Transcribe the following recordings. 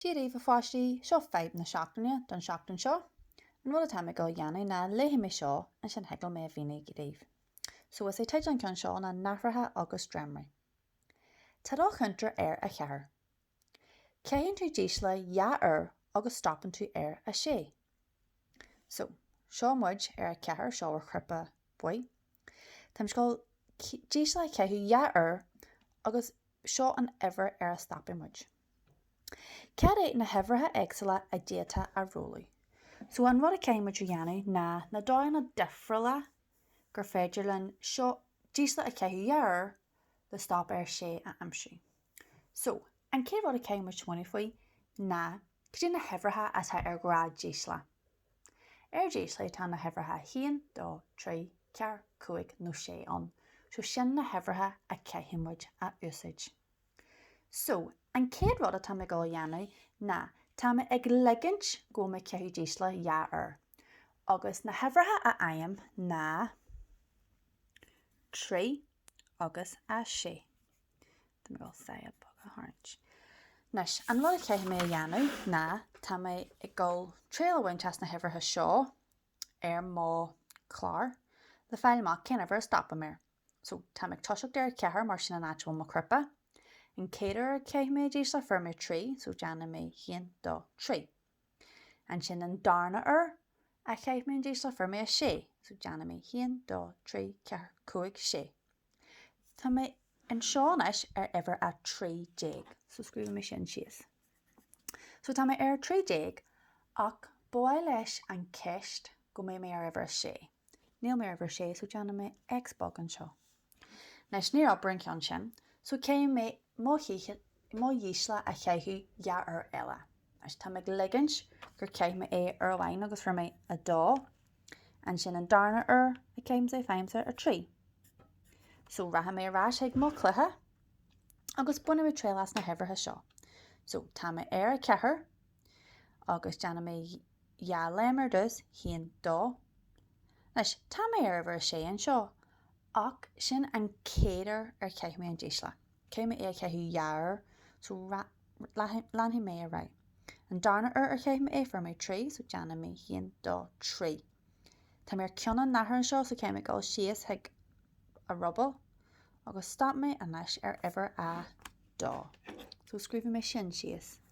Dia daoibh, a pháistí, seo fadhb na seachtaine don tseachtain seo. An rud atá mé ag dul a dhéanamh ná léifidh mé seo ansin thig liom é a mhíniú daoibh. So is é teideal an ceann seo ná Nathracha agus Dréimirí. Tá do chuntar ar a ceathair. Caitheann tú dísle dhá uair agus stopann tú ar a sé. So, seo muid ar a ceathair, seo ar chnaipe buí. Táimse ag dul dísle a chaitheamh dhá uair agus seo an uimhir ar a stopfaidh muid. Cad é na huimhreacha éagsúla a d'fhéadfá a rolladh? So an rud a chaithfidh muid a dhéanamh ná na dóigheanna difriúla gur féidir linn seo dísle a chaitheamh dhá uair le stop ar sé a aimsiú. So an chéad rud a chaithfidh muid smaoineamh faoi ná cad é na huimhreacha atá ar ghnáthdhísle? Ar dhísle tá na huimhreacha haon, dó, trí, ceathair, cúig nó sé ann. So sin na huimhreacha a chaithfidh muid a úsáid. So, an chéad rud atá mé ag dul a dhéanamh ná tá mé ag ligint go bhfuil mé ag caitheamh dísle dhá uair. Agus na huimhreacha a fhaighim ná trí agus a sé. Tá mé ag dul saighead beag a tharraingt. Anois, an rud a chaithfidh mé a dhéanamh ná tá mé ag dul triail a bhaint as na huimhreacha seo ar mo chlár le fáil amach cén uimhir a stopaim air. So, táim ag toiseacht ar a ceathair mar sin an áit a bhfuil mo chnaipe. An chéad uair ar chaith mé dísle, fuair mé trí, so déanfaidh mé haon, dó, trí. Ansin an darna uair a chaith mé an dísle fuair mé a sé so déanfaidh mé haon, dó, trí, ceathair, cúig, sé. Tá mé anseo anois ar uimhir a trí déag so scríobhfaidh mé sin síos. So tá mé ar a trí déag ach ba mhaith leis an cheist go mbeidh mé ar uimhir a sé. Níl mé ar uimhir a sé so déanfaidh mé X beag anseo. Anois níor oibir an ceann sin, so caithfidh mé mo dhísle a chaitheamh dhá uair eile. Anois táim ag ligint gur chaith mé é uair amháin agus fuair mé a dó, ansin an darna uair a chaithimse é faighimse a trí. So rachaidh mé ar ais chuig mo chluiche agus bainfidh mé triail as na huimhreacha seo. So tá mé ar a ceathair, Agus déanfaidh mé dhá léim ar dtús, haon, dó. Anois, tá mé ar uimhir a sé anseo, ach sin an chéad uair ar chaith mé an dísle. Caithfidh mé é a chaitheamh dhá uair, so leanfaidh mé ar aghaidh. An darna uair ar chaith mé é, fuair mé trí, so déanfaidh mé haon, dó, trí. Tá mé ar ceann an nathair anseo, so caithfidh mé dul síos chuig a ruball, agus stop mé anois ar uimhir a dó, so scríobhfaidh mé sin síos.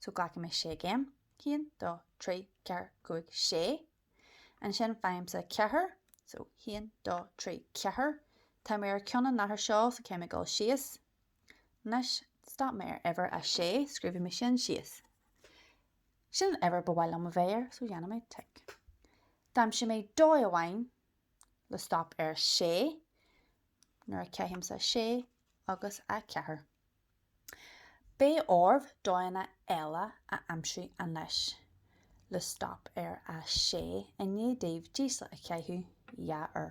So glacfaidh mé sé gcéim. haon, dó, trí, ceathair, cúig, sé. Ansin faighimse ceathair. So haon, dó, trí, ceathair. Tá mé ar ceann an nathair seo so caithfidh mé dul síos. Anois, stop mé ar uimhir a sé, scríobhfaidh mé sin síos. Sin an uimhir ba mhaith liom a bheith air so dhéanfaidh mé tic. D'aimsigh mé dóigh amháin le stop ar sé nuair a chaithimse sé agus a ceathair. Beidh oraibh dóigheanna eile a aimsiú anois le stop ar 6 i ndiaidh daoibh dísle a chaitheamh dhá uair.